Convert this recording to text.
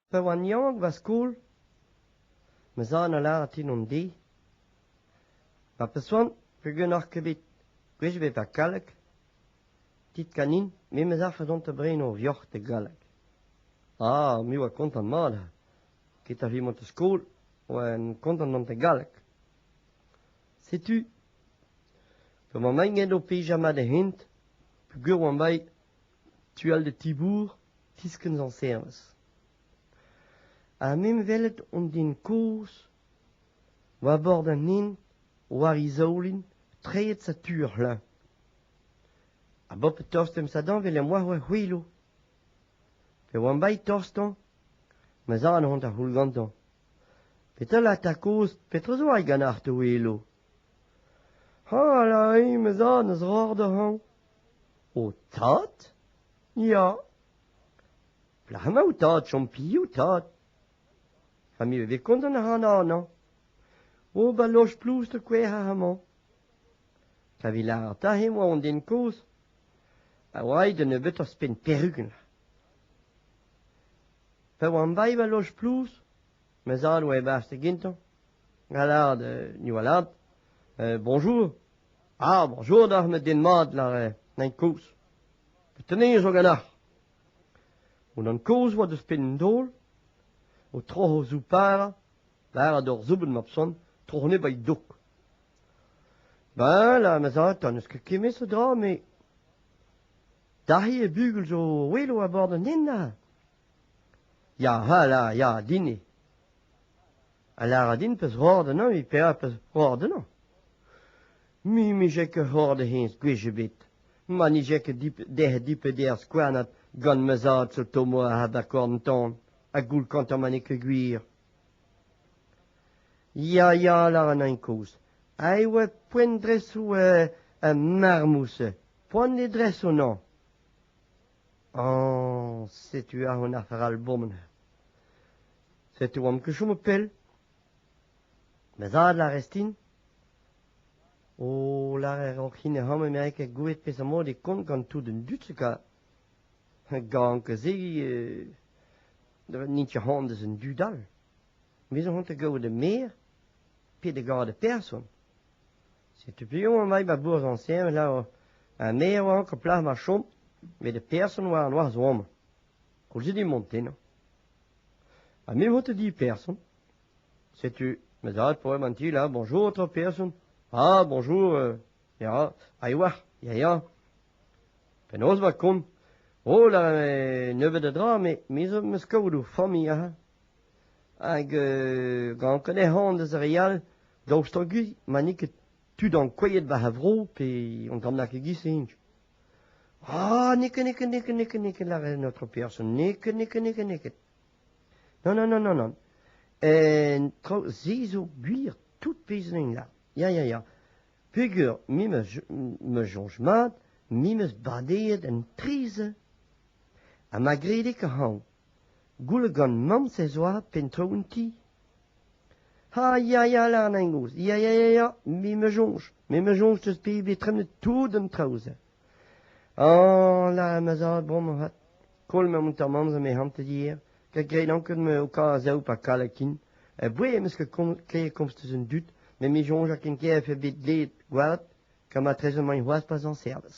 Pa oan yaouank war skol, ma zad a lâras din an deiz ma pesoant pegen ac'h ket bet gwech ebet ha galleg, dit ganin me 'm eus afer dont da brenañ o vioc'h e galleg. Ah, me a oa kontant mat ha get ar re mont da skol a oan kontant mont e galleg. Setu, gant ma maen-gen o pejañ mat e hent peogwir oan bet tu-all da ti-bourr, tiskenn zañserez. Ha m'em welet an den kozh, war bord an hent, war e zaoulin, treid setu ur c'hleñv. Ha bob tost em sadanvell em boa ur c'hwilo. Pe oan bai tostañ, ma zad on da c'houl gantañ. Petra lat a kozh, petra zo ai ganeoc'h, to welo? Hala, ma zad, n'eus roc'h da hañv. Ho tad ? Ya. Plac'h emañ ho tad, chom piv, tad ? Familh e vez kontant ac'hana annañ. O, ba loch Ploust e kouezhañ amañ. Kavit lâret aze emañ hon den kozh. A oa da nebeut ouzhpenn perugen. Pa oan bae ba loch Ploust, ma zad oa e-barzh da gentañ, gall lâret, ni oa lâret, bonjour. Ah, bonjour doc'h met den mat lâret, nain kozh. Petenez zo ganeoc'h? Unan kozh oa deus penn an daol, o troc'h o zouparañ, lâret d'ur zoubenn mab son, tro ne bai dok. Ben, la ma zañ, n'eus ket kemmet a dra, me... Dac'hi e bugel zo welo a-bord an den, a? Ya, a la, ya, din eo. A lâra din peus roar d'enañ evit petra peus roar d'enañ. Me mije ket roar da hennezh gwech ebet. Ma nije ket dec'h dipeder skouarnat gant ma zad zo tomo a habakorn-tan ha goulkantañ ma n'eo ket gwir. Ya, ya, lâran ein kozh. A oa poent dresoù e marmouz. Poan e dres o nañ. Oh, setu aon ar c'haralbomn. Setu oamp ket chomet pell. Ma zad lârez din. O lâret oc'h hini hom emañ ket gouet peseurt-mod e kont gant tout an dud ka. Gant ka se euh, n'int ket c'hoant deus an dud all. Me zo c'hoant da gaout da maer pe da gaout da person. Setu piv emañ ba bourzh Añsien lavar ha me a oa ank ar plac'h ma chom met ar person oa an noazh-vamm. Koulzet eo Montena. Ha me vo te di person. Setu ma zad pa oa an ti la bonjour otro person. Ah, bonjour, euh, ya, a ewac'h, ya, ya. Penaos va kont? Oh, la nebeut a dra, me, me zo 'm eus kaout o familh aze. Hag gant Canehan deus ar re all, daoust guzh ma n'eo ket tud ankouaet war ar vro pe an tamm nag e-giz-se int. Ah, neket, neket, neket, neket, neket, lâret notre person, neket, neket, neket, neket. Non, non, non, non, non. En traoù-se zo gwir tout pezh int là. Ya, ya, ya. Peger, me me soñj mat, me 'm eus badeet un trizh ha ma gredig a-hañv. Gouel gant Mansez oa penn-traoù an ti ? Ha ya ya Larnagnoz, ya ya ya ya, me 'meus soñj, me 'meus soñj 'teus bet bet tremenet tout an traoù-se. Ah là, ma zad, bon ma zad, koll ma moutarmant me hantet hier, gant graet anket-me ho kazav pa kalakin. Ha bouez em eus ket komz- kleier komz deus an dud, met me soñj ha ken ker e vefe bet dleet gwad gant matrezed emaint c'hoazh pa 'z an servij.